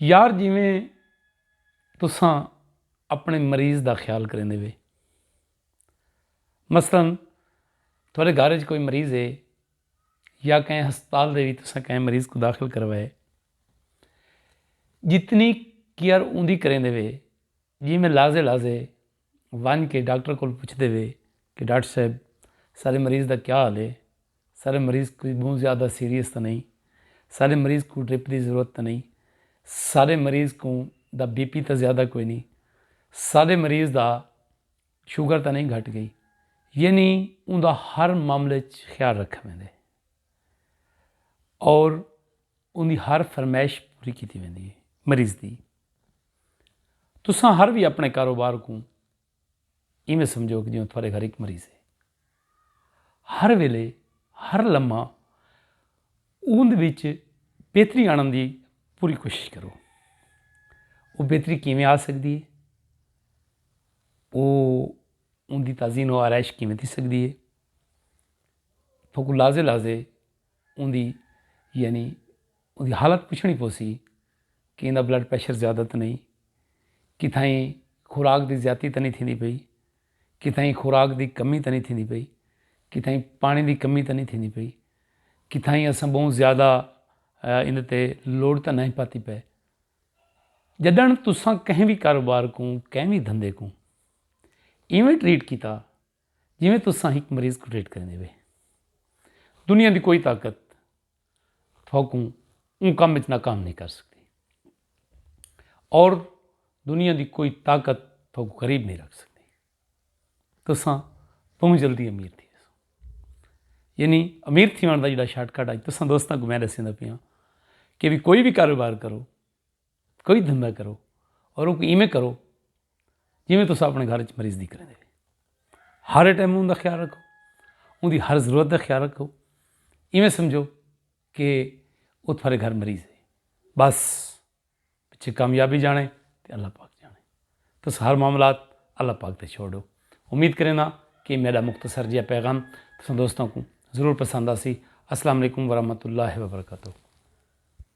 یار جیویں تساں اپنے مریض دا خیال کریندے وے مثلا تھوڑے گھر وچ کوئی مریض ہے یا کہیں ہسپتال دے بھی تساں کہیں مریض کو داخل کروائے جتنی کیئر اوندی کریندے وے جی میں لازے لازے ونڄ کے ڈاکٹر کول پچھدے وے کہ ڈاکٹر صاحب ساݙے مریض دا کیا حال ہے؟ ساݙا مریض کوئی ٻہوں زیادہ سیریس تاں نئیں؟ ساݙے مریض کوں ڈرپ دی ضرورت تاں نئیں؟ ساݙے مریض کوں دا بی پی تاں زیادہ کوئی نئیں؟ ساݙے مریض دا شوگر تاں نئیں گھٹ ڳئی؟ یعنی اوندا ہر معاملے اچ خیال رکھا ویندے ہے اور اوندی ہر فرمائش پوری کیتی ویندی ہے مریض دی۔ تساں ہر وی اپنے کاروبار کوں ایویں سمجھو کہ جیوں تھوڑے گھر ہک مریض ہے ہر ویلے ہر لمحہ اوند وچ بہتری آنن دی پوری کوشش کرو وہ بہتری کیویں آ سکتی ہے وہ ان دی تازین و آرائش کیویں تھی سکتی ہے تو کو لازے لازے ان دی یعنی اوندی حالت پچھݨی پوسی کہ ایندا بلڈ پریشر زیادہ تاں نئیں، کتھائیں خوراک دی زیاتی تاں نئیں تھیندی پئی، کتھائیں خوراک دی کمی تاں نئیں تھیندی پئی، کتھائیں پاݨی دی کمی تاں نئیں تھیندی پئی، کتھائیں اساں ٻہوں زیادہ ایندے تے لوڈ تاں نئیں پاتی پئے۔ ڄݙݨ تساں کہیں وی کاروبار کوں، کہیں وی دھندے کوں ایویں ٹریٹ کیتا جیویں تساں ہک مریض کوں ٹریٹ کریندے پئے۔ دنیا دی کوئی طاقت تھوکوں اوں کم وچ ناکام نہیں کر سکدی اور دنیا دی کوئی طاقت تھوکوں غریب نہیں رکھ سکدی تساں بہت جلدی امیر تھی یعنی امیر تھی دا جڑا شارٹ کٹ اج تساں دوستاں کو میں دسیندا پیاں کہ بھی کوئی بھی کاروبار کرو کوئی دھندا کرو اور اونکوں ایویں کرو جیویں تساں اپنے گھر وچ مریض دی کریندے ہو ہر ٹائم اوندا خیال رکھو اوندی ہر ضرورت دا خیال رکھو ایویں سمجھو کہ او تھارے گھر مریض ہے بس پچھے کامیابی جانے تے اللہ پاک جانے تس ہر معاملات اللہ پاک تے چھوڑ دو امید کرینا کہ میرا مختصر جہا پیغام تساں دوستاں کو ضرور پسند آسی السلام علیکم ورحمۃ اللہ وبرکاتہ